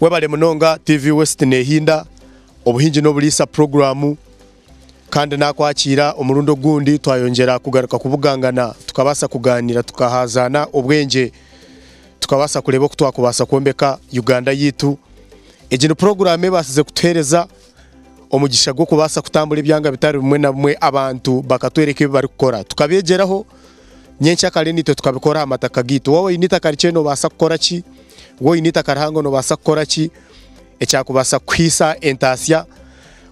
Webale munonga TV West Nehinda obuhingi n'oburiisa puroguramu kandi nakwakiira omurundi ogundi twayongyera kugaruka kubugangana tukabaasa kugaaniira tukahaazaana obwengye tukabaasa kureeba oku twakubaasa kwombeka Uganda yaitu. Egi ni puroguramu ebaasize kutuheereza omugisha gw'okubaasa kutambura ebyanga bitari bimwe na bimwe abantu bakatworeka ebi barikukora tukabeegyeraho Nyenkya kare naitwe tukabikora aha mataka gaitu. Waaba oine eitaka rikye noobaasa kukora ki? Waaba oine eitaka rihango noobaasa kukora ki ekyakubaasa kukuhaisa entaasya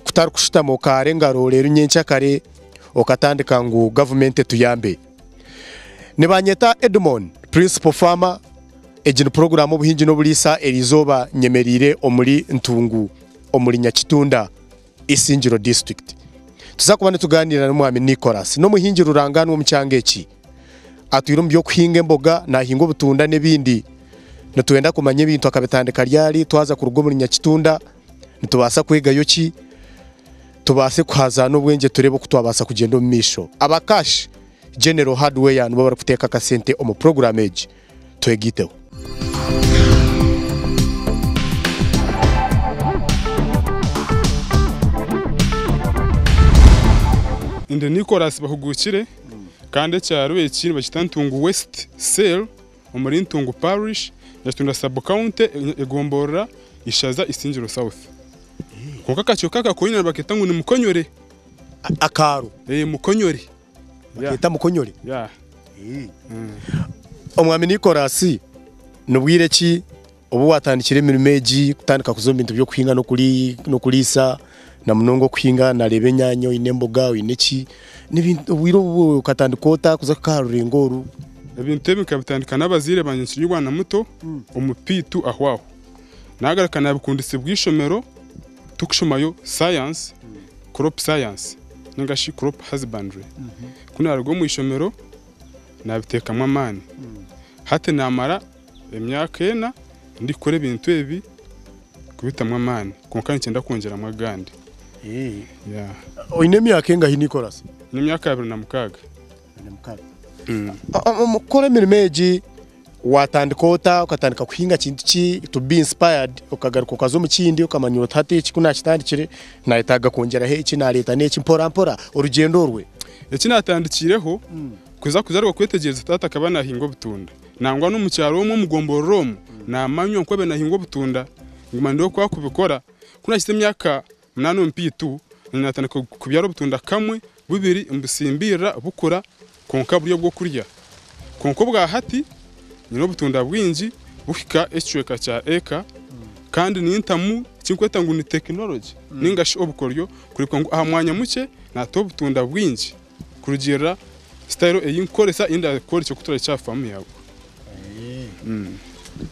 kutarikushutama okaara engaro reero nyenkya kare okatandika ngu gavumenti etuyambe? Nibanyeta Edmon, Principal Farmer. Egi ni puroguraamu Obuhingi n'Oburiisa eriizooba nyemereire omuri Ntungu omuri Nyakitunda. Isingiro District. Tuza kuba nitugaaniira na Mwami Nicholas, n'omuhingi rurangaanwa omu kyanga eki. Atwire omu by'okuhinga emboga, naahinga obutunda n'ebindi. Nitwenda kumanya ebintu akabitandika ryari, twaza kuruga omuri Nyakitunda nitubaasa kwegayo ki, tubaase kuhazaana obwengye tureebe oku twabaasa kugyenda omu maisho. Aba Kash General Hardware nibo barikuteeka akasente omu puroguraamu egi. twegaiteho. Ndi Nicholas Bahuguukire kandi ekyaro eki nibakyeta Ntungu West Cell omuri Ntungu Parish, Nyakitunda Sub County, Egomborora, Ishaza, Isingiro South. Kwonka akacweka aka koine nibakeeta ngu ni Mukonyore. Akaaro? Eeh Mukonyore. Bakeeta mukonyori. Yeah. Omwami Nicholas, ni bwire ki obu waatandikire emirimo egi, kutandika kuza omu bintu by'okuhinga n'okuri- n'okuriisa, na munonga okuhinga? Naareeba enyaanya, oine emboga, oine ki, ni ebintu obwire obu okatandika ota kuza kuhika aha rurengo oru? Ebintu ebi nkabitandika n'abazaire bangye nkiri omwana muto, omupiitu ahwaaho. Naagaruka naabikundisa bw'eishomero. Turikushomayo Science, Crop Science ninga shi Crop Husbandry. Ku naaruga omu ishomero naabiteekamu amaani. Hati naamara emyaka ena ndikukora ebintu ebi kubitamu amaani kwonka niikyenda kwongyeramu agandi. Oine emyaka engahi niikora se? N'emyaka abiri na mukaaga. Omu kukora emirimo egi watandika ota? Okatandika kuhinga kintu ki to be inspired okagaruka okaza omu kindi okamanya oti hati eki ku naakitandikire naayetaaga kwongyeraho eki naareeta n'eki mporampora orugyendo orwe? Eki naatandikiireho kwija kugaruka kwetegyereza taata akaba naahinga obutunda nangwa n'omu kyaro omwo omu gomborora omwo naamanywa nk'obe naahinga obutunda nguma ndeebe oku arikubikora. Ku naahikire emyaka Munana omupiitu na nyina batandika kubyara obutunda kamwe bubiri nibusimbirira bukura kwonka buri obw'okurya. Kwonka obwa hati nyine obutunda bwingi buhika ekicweka kya eka kandi nintamu eki ndikweta ngu ni tekinologi ninga shi obukoryo kureebeka ngu aha mwanya mukye naata obutunda bwingi. Kurugiirira sitayiro ei ndikukoresa, ei ndakworeka oku turahikye aha faamu yaawe.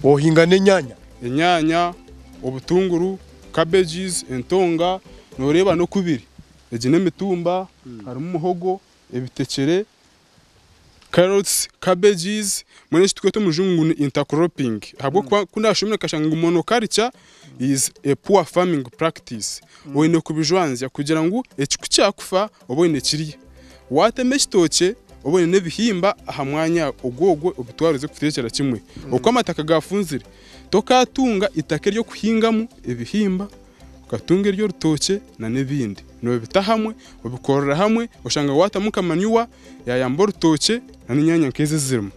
Ohinga n'enyanya? Enyanya, obutunguru, cabbages, entonga, nooreeba n'oku biri. Egi n'emitumba, harimu muhogo, ebitekyere, Carrots, cabbages, mbwenu eki tukweta omu rujungu ngu ni intercropping ahabw'okuba ku naashomire nkashanga ngu monoculture is a poor farming practice. Oine kubijwanzya kugira ngu ekiku kyakufa obe oine ekirya. Waatema ekitookye obe oine n'ebihimba aha mwanya ogwogwo obitware oze kubiteekyera kimwe. Oku amataka gaafunzire, tokaatunga itaka ery'okuhingamu ebihimba, Okatunga ery'orutookye na n'ebindi. Nobita hamwe, obikorera hamwe, oshanga watamu nka manure yayamba orutookye na n'enyanya nk'ezi ezirimu.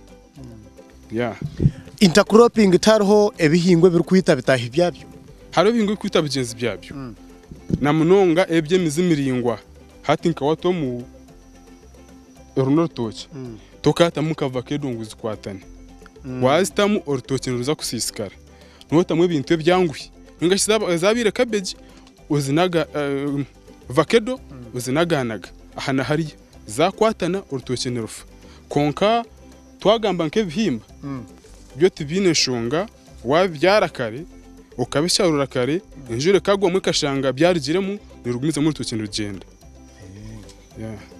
Intercropping tihariho ebihingwa ebirikwita bitaahi byabyo? Hariho ebihingwa ebirikwita bigyenzi byabyo. Na munonga ebi eby'emizi miraingwa. Hati nka wata omu, oru n'orutookye, tokayatamu nka vakedo ngu zikwatane. Wazitamu, orutookye niruza kusiisikara. nootamu ebintu ebyanguhi ninga shi zaabaire kabegi vakedo ozinagaanaga aha na hariya zaakwatana orutookye nirufa. Kwonka twagamba nk'ebihimba byo tibiine nshonga waabibyara kare okabisharuura kare enjura ekagwamu ekashanga byarugiremu, noorugumizamu orutookye nirugyenda.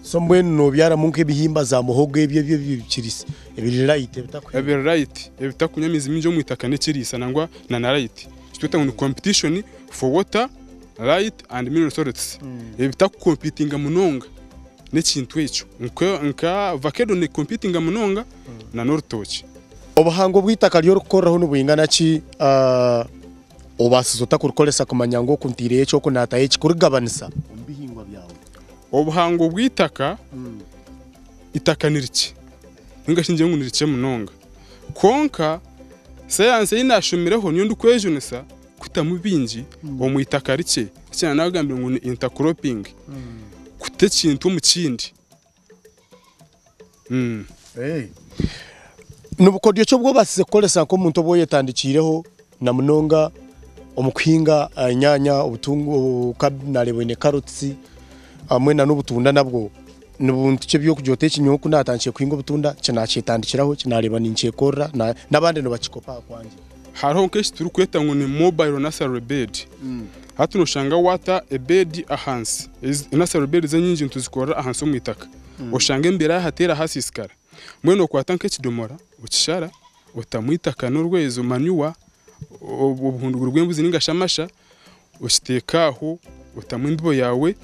So mbwenu nobyaramu nka ebihimba za muhogo ebyo ebyo ebikirisa ebiri light ebitakuhemba? Ebiri light ebitakunywa amizi mingi omu itaka nekirisa nangwa na na light ekitweta ngu ni competition for water, light and mineral salts ebitaku competinga munonga nekintu ekyo nka vakedo ne competinga munonga na norutookye. Obuhango bwitaka ryori kukoreraho nibwingana ki? Obaasize ota kurukoresa kumanya ngu oku ntaireyo eki oku naatayo eki kurikugabanisa omu bihingwa byawe? Obuhango bw'eitaka, Eitaka ni rikye nainga shi ningire ngu ni rikye munonga. Kwonka sayansi ei naashomireho niyo ndikwejunisa kuhitamu bingi omu itaka rikye, eki naagambire ngu ni intercropping, kuta ekintu omu kindi. Ni bukodyo ki obu obaasize kukoresa nk'omuntu ou oyetandikiireho na munonga omu kuhinga enyaanya, obutunguru, naareeba oine karoti hamwe n'obutunda nabwo. Ni buntu ki eby'okurya ota eki nyowe ku naatandikire kuhinga obutunda, eki naakyetandikiraho, eki naareeba ninkyekorera, n'abandi nibakikopa aha kwangye. Hariho nk'eki turikweta ngu ni mobile nursery bed. Hati nooshanga waata ebeedi ahansi, ezi nursery beds enyingi nituzikorera ahansi omu itaka, oshange embeera yaahateera haasiisikara. Mbwenu okwata nk'ekidomora okishara, otamu eitaka n'orwezo, manure, o- obuhunduguru bw'embuzi nainga shi amasha, okiteeka aho otamu embibo yaawe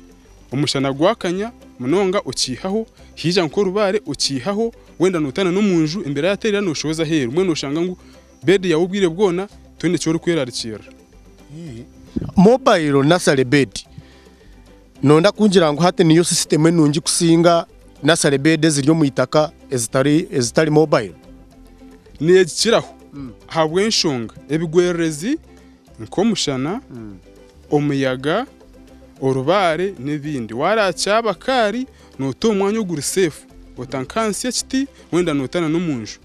omushana gwakanya munonga okiihaho haija nk'orubaare okiihaho wenda noota n'omu nju embeera yateerera noshohoza aheeru mbwenu noshanga ngu beedi yaawe obwire bwona tihaine eki orikwerarikirira. Mobile nursery bed nooda kungira ngu hati niyo sisitemu enungi kusinga nursery bed eziri omu itaka ezitari ezitari mobile? Neegikiraho ahabw'enshonga ebigwererezi nk'omushana, omuyaga, orubaare n'ebindi. Waarakyaba kaari noota omu mwanya oguri seefu, ota nk'ahansi y'ekiti wenda noota n'omu nju.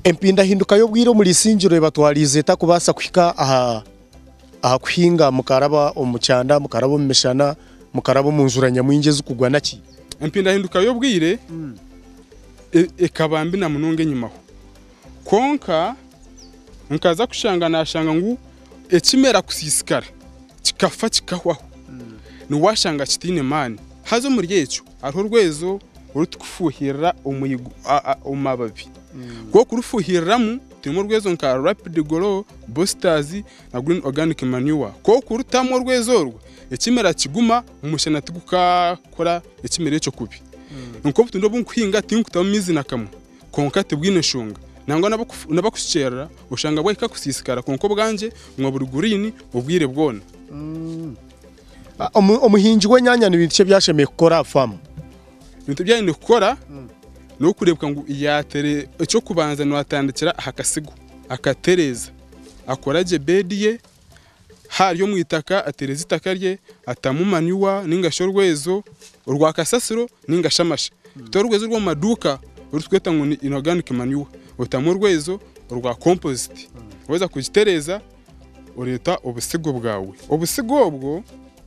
Empindahinduka y'obwire omuri Isingiro ebatwariize eta kubaasa kuhika aha kuhinga mukaraba omu kyanda, mukaraba omu mishana, mukaraba omu njura nyamwingi ezikugwa naki? Empindahinduka y'obwire. ekaba mbi na munonga enyimaho. Kwonka nkaza kushanga nashanga ngu ekimera kusisikara kikafa kikahwaho ni washanga kitaine maani. Haza omuri ekyo hariho orwezo orutukufuhirira omu mababi. Ku orikurufuhiriramu turimu orwezo nka rapid grow, boosters na green organic manure. Ku orikutamu orwezo orwo ekimera kiguma. Omushana tigukakora ekimera ekyo kubi. Kwonka obutunda obu nkuhinga tinkutamu maizi na kamwe. Kwonka tibwine nshonga. Nangwa n'abakushukyerera oshanga bwahika kusiisikara kwonka obwangye buguma buri guriini obwire bwona. Omuhingi w'enyanya ni bintu ki ebi ashemereire kukora aha faamu? Ebintu ebi aine kukora n'okureebeka ngu yaatere, eky'okubanza naatandikira aha kasiga, akatereeza, akora gye beedi ye. haaryo omu itaka ateereze itaka rye atamu manyuwa nainga shi orwezo orwa kasasiro nainga shi amashe. Tora orwezo orw'omu maduuka oru turikweta ngu ni inoganic manure otamu orwezo orwa kompoziti. Waaheza kugitereeza oreeta obusigo bwawe. Obusigo obwo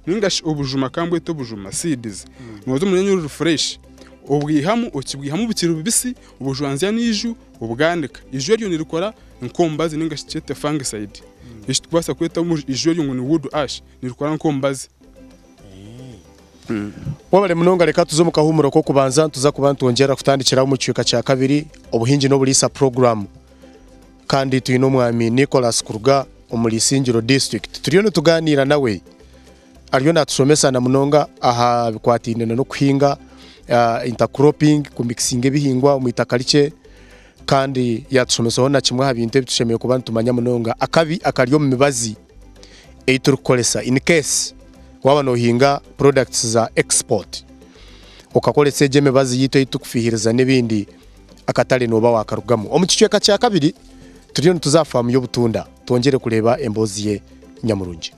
nainga shi obujuma ka mbwete obujuma, seeds, nooza omu runyanya oruri fureshi obwihamu okibwihamu bukiri bubisi obujwanzya n'eiju Obwandika, Eiju eryo nirikora nk'omubazi ninga shi tukyete fungicide. Eki tukubaasa kweta eiju eryo ngu ni wood ash, nirikora nk'omubazi. Webare munonga reka tuze omu kahuumuro k'okubanza nituza kuba nitwongyerera kutandikiraho omu kicweka kya kabiri obuhingi n'oburiisa puroguramu kandi twine omwami Nicholas kuruga omuri Isingiro disiturikiti turiyo nitugaaniira nawe. Ariyo naatushomesa na munonga aha bikwataine na n'okuhinga ah, intercropping, kumikisinga ebihingwa omu itaka rikye kandi yaatushomesaho na kimwe aha bintu ebi tushemereire kuba nitumanya munonga akabi akari omu mibazi ei turikukoresa in case waaba noohinga products za export okakoresa egyo emibazi yaitu ei turikufiihiriza n'ebindi akatare nooba waakarugamu. Omu kicweka kya kabiri turiyo nituza aha faamu y'obutunda twongyere kureeba emboozi ye nyamurungi.